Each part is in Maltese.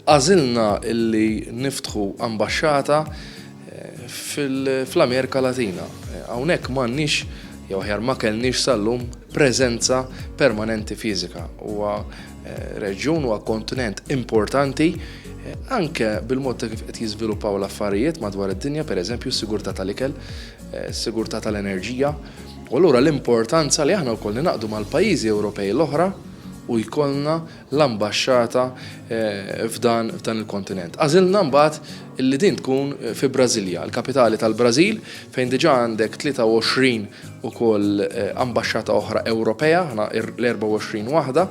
għażilna illi niftħu ambasċata eh, fl-Amerika Latina. Eh, hawnhekk m'għandniex jew ħjar ma kellniex sal-lum preżenza permanenti fiżika. Huwa Reġjun huwa kontinent importanti anke bil-mod ta' kif qed jiżviluppaw l-affarijiet madwar id-dinja, pereżempju s-sigurtà tal-ikel, s-sigurtà tal-enerġija. U allura l-importanza li aħna wkoll ningħaqdu mal-pajjiżi Ewropej l-oħra u jkollna l-ambaxxata f'dan il-kontinent. Għażilna mbagħad li din tkun fi Brasilia, il-kapitali tal-Brażil, fejn diġà għandek 23 ukoll ambaxxata oħra Ewropea, aħna l-24 waħda,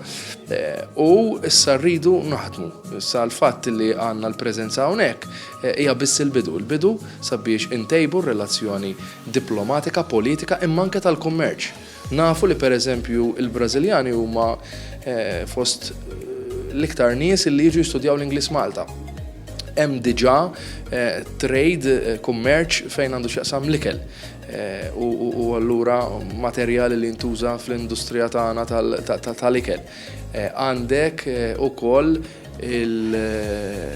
u issa rridu naħdmu. Issa l-fatt li għandna l-preżenza hawnhekk hija biss il-bidu, il-bidu sabiex intejbu r-relazzjoni diplomatika, politika imma anke tal-kummerċ. Nafu li pereżempju il-Brażiljani huma fost l-iktar nies li jiġu jistudjaw l-Ingliż Malta hemm diġà eh, trade eh, kummerċ fejn għandu x'jaqsam l-ikel. u allura materjali li ntuża fl-industrija tagħna tal-ikel. Eh, għandek eh, ukoll il-ftehim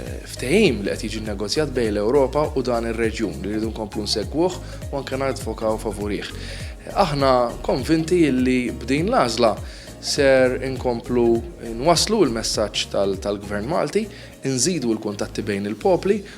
li qed jiġi negozjat bejn l-Ewropa u dan ir-reġjun li rridu nkomplu nsegwuh u anke nadvokaw favorih. Aħna konvinti li b'din l-għażla ser inkomplu nwaslu l-messaġġ tal-Gvern Malti, nżidu l-kuntatti bejn il-popli